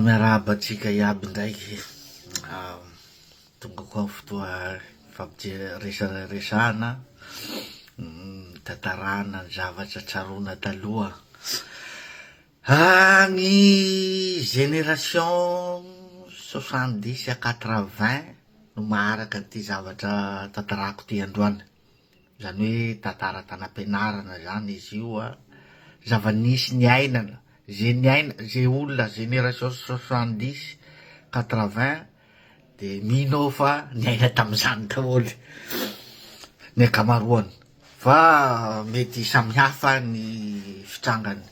Miarahaba antsika iaby indraiky. Tonga koa ny fotoa hifampijery resaresahana, hitantaràna ny zavatra tsaroana taloha. Ny génération soixante dix à quatre vingt no maharaka ity zavatra tantaràko ity androany. Izany hoe tantara tanam-pianarana izany izy io an. Zava-nisy niainana, izay niaina, izay olona génération soixante dix, quatre vingt dia mino aho fa niaina tamin'izany daholo ny ankamaroany fa mety samy hafa ny fitrangany.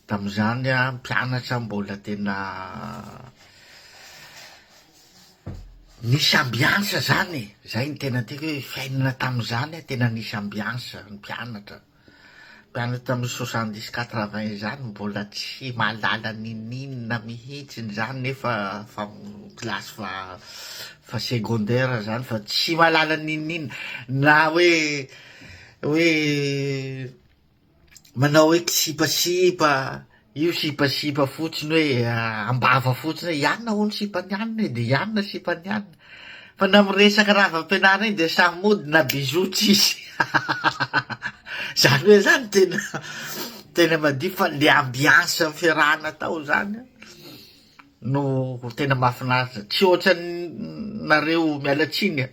Tamin'izany aho mpianatra mbola tena. Nisy ambiansa zany e, zay ny tena tiako hoe fiainana tamin'izany a, tena nisy ambiansa, ny mpianatra, mpianatra tamin'ny soixante dix quatre vingt izany mbola tsy mahalala ninininona mihitsy ny zany nefa fa classe fa fa secondaire zany fa tsy mahalala ninininona na hoe hoe Manao hoe kisipasipa, io sipasipa fotsiny hoe am-bava fotsiny hoe ianona hono sipan'i anona e, dia ianona sipan'i anona. Fa na miresaka raha avy am-pianarana iny dia samy mody na bisous tsy hisy. Izany hoe izany tena tena madio fa le ambiance fiarahana tao izany an, no tena mahafinaritra. Tsy ohatran'ny nareo miala tsiny an.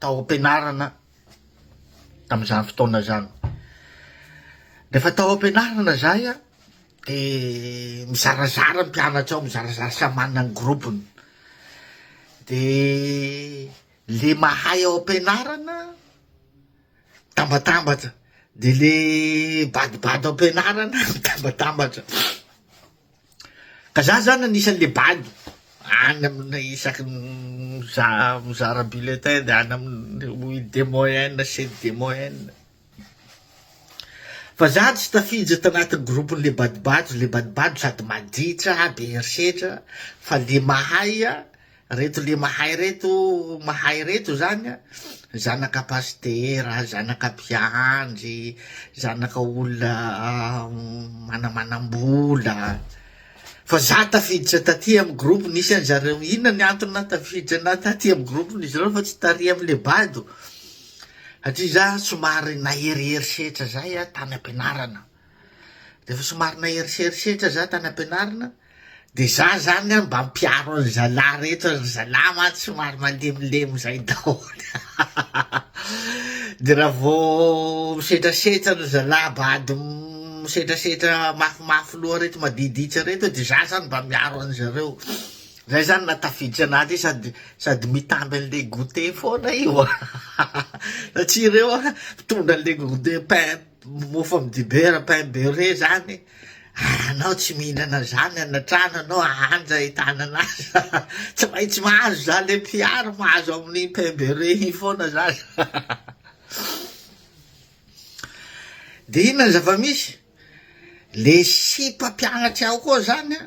tao am-pianarana tamin'izany fotoana izany. Rehefa tao am-pianarana izahay an, dia mizarazara ny mpianatra ao, mizarazara samy manana ny gropony. Dia le mahay ao am-pianarana mitambatambatra, dia le badibady ao am-pianarana mitambatambatra. Ka za zany anisany le bado any aminy isaky ny mizara bulletin de any aminy oui des moyennes c'est des moyennes fa za tsy tafiditra tanaty groupe le badobado le badobado sady maditra be herisetra fa le mahay Reto le mahay reto mahay reto zany a, zanaka pasitera, zanaka mpiandry, zanaka olona manamanam-bola, fa za tafiditra taty amin'ny groupe nisy an'i zareo, inona ny antony nahatafiditra anah taty amin'ny groupe n'izy ireo fa tsy tary am'le bado, satria za somary nahery herisetra zay a tany am-pianarana. Rehefa somary naherisa herisetra za tany am-pianarana de za zany an mba mpiaro an'i zalahy rehetra, ry zalahy mantsy somary malemilemy zay daholo de raha vao misetrasetra ry zalahy bado misetrasetra mafimafy loha reto madiditra reto de za zany mba miaro an'i zareo, zay zany na tafiditra anaty sady sady mitamby an'le goûter foana io satria reo an mitondra an'le goûter pain. Mofo am dibera pain beurre zany ary anao tsy mihinana zany any antrano anao anja hitanana azy tsy maintsy mahazo za le mpiaro mahazo aminy pain beurre iny foana za de inona ny zava-misy le sipa mpianatry ao koa zany a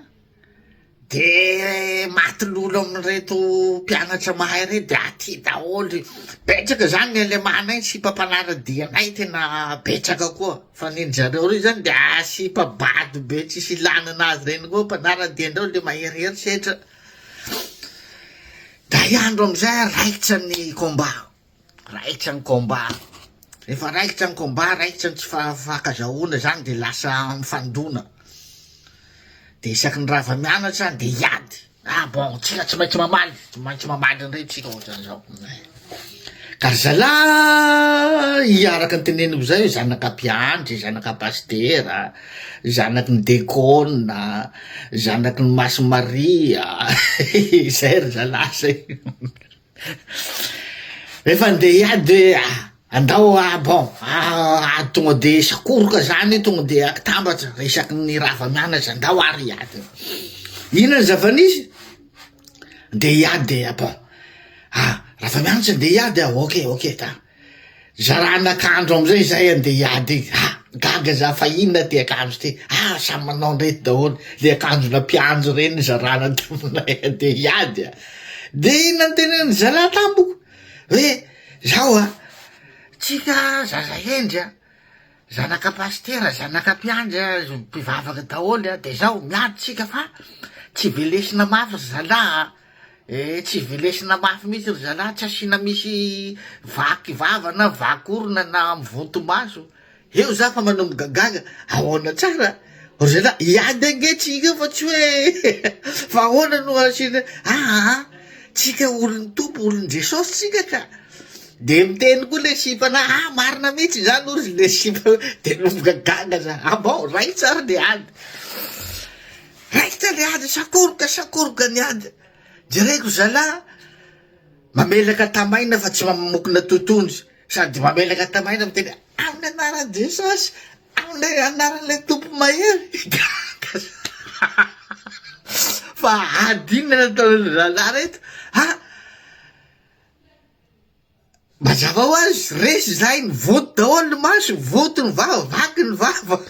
Dia maty lolo amin'ireto mpianatra mahay ireto dia aty daholo, betsaka izany ny alemanay sipa mpanara-dia anay tena betsaka koa, fa ny an-dry zareo ireo izany dia sipa bado be tsisy ilana an'azy ireny koa, mpanara-dia indray ilay maherihery setra, da hiandro amin'izay aho raikitra ny combat. Raikitra ny combat. Rehefa raikitra ny combat, raikitra ny tsy fankazahoana izany dia lasa mifandona. Dia isaky ny rava mianatra dia hiady. Ah bon, tsika tsy maintsy mamaly, tsy maintsy mamaly indray tsika ohatrany zao. Ka ry zalahy, araka ny teneniko zay, zanaka mpiandry, zanaka pasitera, zanaky ny dekona, zanaky ny Masin'i Maria, zay ry zalahy zay. Efa ndeha hiady hoe ah, andao ah bon ah ah tonga de sakoroka zany tonga de akitambatra isaky ny rava mianatra andao ary hiady inona ny zava-nisy ndeha hiady ah bon ah rava mianatra ndeha hiady ah ok ok ta Zarana akanjo amizay zahay andeha hiady iny, ah gaga za fa inona ty akanjo ty, ah samy manao an'ireto daholo, le akanjona mpianjo reny no zarana taminay andeha hiady a! de iny nantenenin'ny zalahy tamiko hoe zao a, tsika zaza hendry a, Zanaka pasitera, zanaka mpiandry a, mpivavaka daholo a, de zao miady tsika fa tsy velesina mafy ry zalahy a, eh tsy velesina mafy mihitsy ry zalahy, tsy asiana misy vaky vava na vaky orona na mivonto maso, eo za fa manomboka gaga, ahoana tsara? Ry zalahy, hiady ange tsika fa tsy hoe fa ahoana no asiana aa tsika olon'ny Tompo, olon'i Jesosy tsika ka! dia miteny koa ilay sipana ah marina mihitsy izany hoy ry le sipa dia nomboka gaga za abao ah raikitra ary le ady raikitra le ady sakoroka sakoroka ny ady jereko zalahy mamelaka tamaina fa tsy mamokona totohondry sady mamelaka tamaina miteny amin'ny anaran'i Jesosy Tao le anaran'ilay Tompo mahery gaga za fa ady inona nataon'ireo rahalahy reto a! mazava ho azy resy za iny vonto daholo ny masony, vonto ny vava, vaky ny vava ry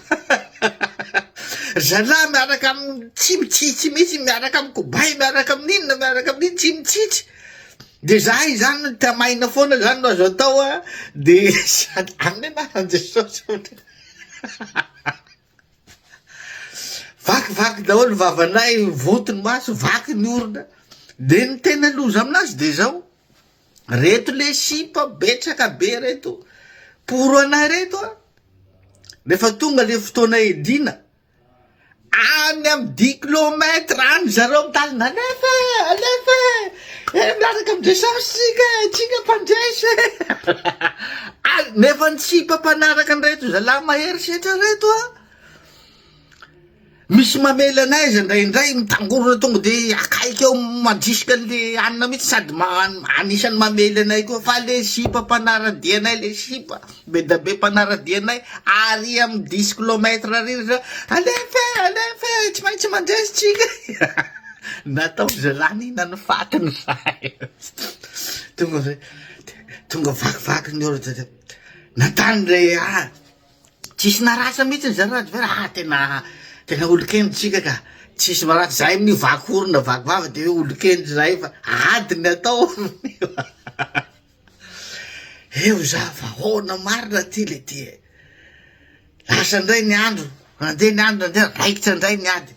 zalahy miaraka amin'ny tsy mitsitsy mihitsy, miaraka amin'ny kobay, miaraka amin'inona, miaraka amin'inona, tsy mitsitsy. De zah izany no tamaina foana zany no azo atao a de sady aminy anaran'i Jesosy vaky vaky daholo vavanay voto ny maso vaky ny orona de ny tena loza aminazy de zao reto le sipa betsaka be reto poro anay reto a rehefa tonga le fotoana edina Any amin'ny dix kilomètre any ry zareo mitalina alefa e! Alefa e! Eh miaraka amin'ny Jesosy isika e! Isika mpandresy e! Al- Nefa ny sipa mpanaraka an'ireto zalahy mahery setra reto a! Misy mamela anay izy indraindray mitangorona tonga de akaiky eo mandrisika an'le hanina mihitsy sady ma- anisan'ny mamely anay koa fa le sipa mpanara-dia anay le sipa. Be da be mpanaradia anay ary am dix kilomètre ary ry zah alefa e alefa e tsy maintsy mandresy tsika natao ry zalahy nina ny faty ny sahy tonga zay tonga vakivaky ny orda zay nantany re ah tsisy narasa mihitsy ny zarajo ve ah tena tena olon-kendry tsika ka tsisy maratra zay amin'io vaky orona vaky vava de hoe olon-kendry zay fa ady ny atao amin'io Eo za fa ahoana marina ty le ty e. Lasa indray ny andro, nandeha ny andro nandeha, raikitra indray ny ady.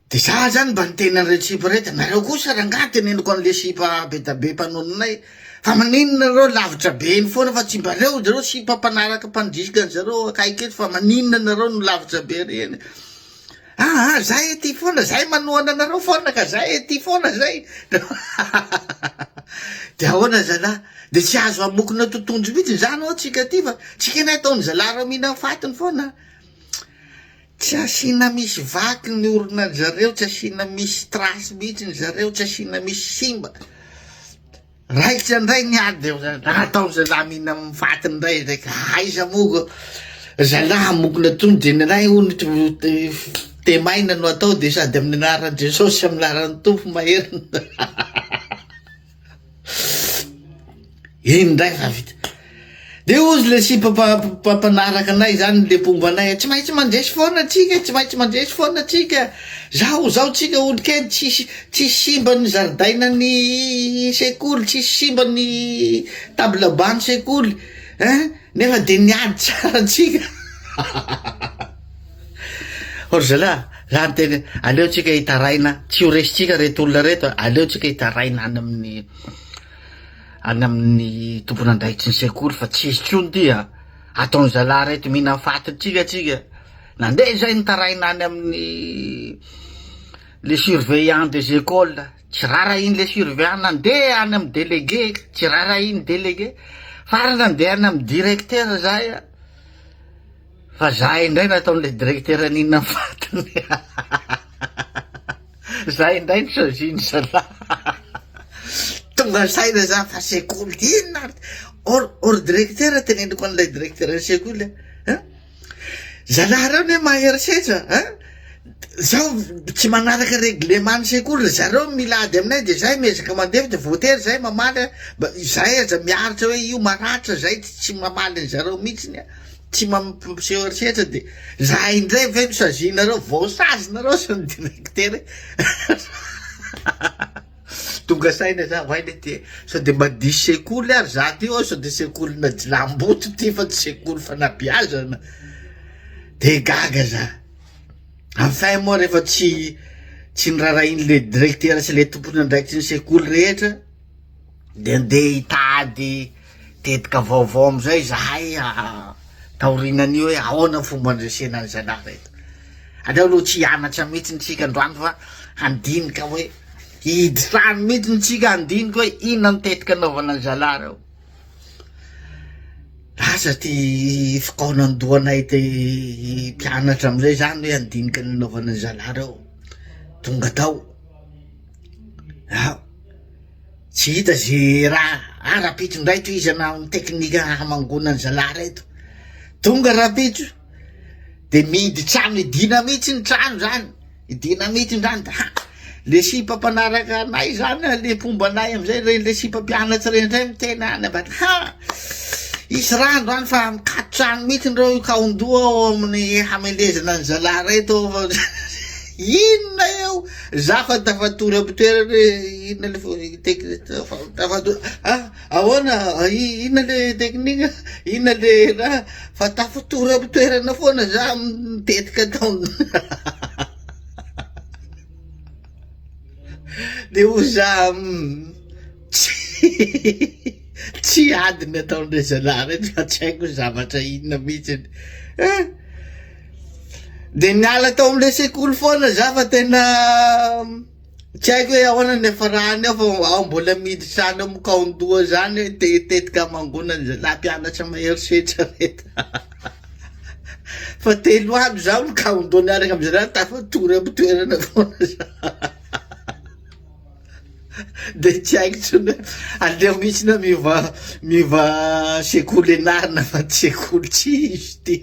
De za zany mba niteny an'ireo tsipa rehetra, nareo kosa rangaha teneniko an'le sipa be da be mpanoninay, fa maninona nareo lavitra be eny foana fa tsy mba reo zareo sipa mpanaraka mpandrisika an'zareo akaiky eto fa maninona nareo no lavitra be ary eny. Aa zay ety foana zay manohana anareo foana ka zay ety foana zay de ahoana zalah de tsy azo amokona totohondry mihitsy zany oa tsika aty fa tsy kena ataony zalah reo mihina ny fatiny foana tsy asiana misy vaky ny orona ny zareo tsy asiana misy trasy mihitsy ny zareo tsy asiana misy simba Raikitra indray ny ady dia nataon'ny zalahy mihina amin'ny fatiny indray izay ka aiza moa ko zalahy hamokona tony dia ny iray hono temaina no atao dia sady amin'ny anaran'i Jesosy sy amin'ny laran'ny tompo maherina iny indray fa vita De ozy le sipa mpanaraka anay zany le mpomba anay, tsy maintsy mandresy foana atsika, tsy maintsy mandresy foana atsika, zao zao tsika olo kely tsisy tsisy simba ny zaridainan'ny sekoly, tsisy simba ny table banc ny sekoly ein, nefa de niady tsara tsika hahahaha, oh ry zalahy za miteny hoe aleo tsika hitaraina tsy ho resitsika reto olona reto, aleo tsika hitaraina any amin'ny. any amin'ny tompon'andraikitry ny sekoly fa tsy hisy tsony ty a! ataon'ny zalahy ray ty mihinan'ny fatin-tsika tsika, nandeha zay ny taraina any amin'ny le surveillant des écoles, tsy rarahiany le surveillant, nandeha any amin'ny délégué, tsy rarahiany délégué, farany nandeha any amin'ny directeur zay a! Fa za indray nataon'ilay directeur n'inona ny vatany za indray ny sôziny zalah tonga saina za fa sekoly ty inona ary or or directeur teneniko an'ilay directeur ny sekoly a zalah reo ne maherisetra a zao tsy manaraka règlement ny sekoly zareo mila ady aminay de zay miezaka mandevo de voatery zay mamaly a mba izay aza miaritra hoe io maratra zay tsy mamaly an'zareo mihitsiny a tsy mampiseho herisetra dia za indray ve no sazinareo vao sazy nareo sa ny directeur e tonga saina za oay le ty sao de mba diso sekoly ary za ty sao de sekolina jilamboto ty fa tsy sekoly fanabiazana de gaga za enfin moa rehefa tsy tsy nirarahin'le directeur sy le tompon'andraikitry ny sekoly rehetra de ndeha hitady tetika vaovao amizay izahay taorinan'io hoe ahoana ny fomba handresena an'i zalahy reto, aleo aloha tsy hianatra mihitsy tsika androany fa handinika hoe hihidy trano mihitsy tsika handinika hoe inona ny tetika anaovana an'i zalahy reo, lasa ty fikaonandohanay ty mpianatra amizay zany hoe handinika ny anaovana an'i zalahy reo, tonga tao. Aoa tsy hita ze raha ah rapitso ndray to izy anao ny teknika hamangona ny zalahy reto tonga rapitso de mihidy trano hidina mihitsy ny trano zany hidina mihitsy ndra ny haa le sipa mpanaraka anay zany le mpomba anay amizay rey le sipa mpianatsy rey ndray miteny any ambany haa hisy rano any fa mikato trano mihitsy ndreo kaondoha ao amin'ny hamelezana ny zalahy reto fa inona eo Za fa tafatory am toerana hoe inona le fo technique fa tafatory a ahoana inona le technique inona le raha fa tafatory am toerana foana za amin'ny tetika ataony de ho za tsy tsy adiny ataony re zalahy reny fa tsy haiko zavatra inona mihitsiny a. Dia niala tao amin'ilay sekoly foana za fa tena tsy haiko hoe ahoana ny hiafarany ao fa aho mbola miditra any amin'ny kaon-doha zany hoe te hitetika hamangoana ny zalahy mpianatra mahery setra ve fa telo andro za amin'ny kaon-doha niaraka amin'ny zalahy tafatory amin'ny toerana foana za de tsy haiko tsony hoe aleo mihitsy na miova miova sekoly ianarana fa ty sekoly tsy izy ty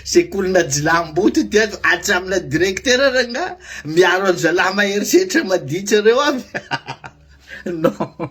Sekolina jilamboto ity avy atsy amina directeur rangah miaro an zalahy mahery setra maditra reo avy non.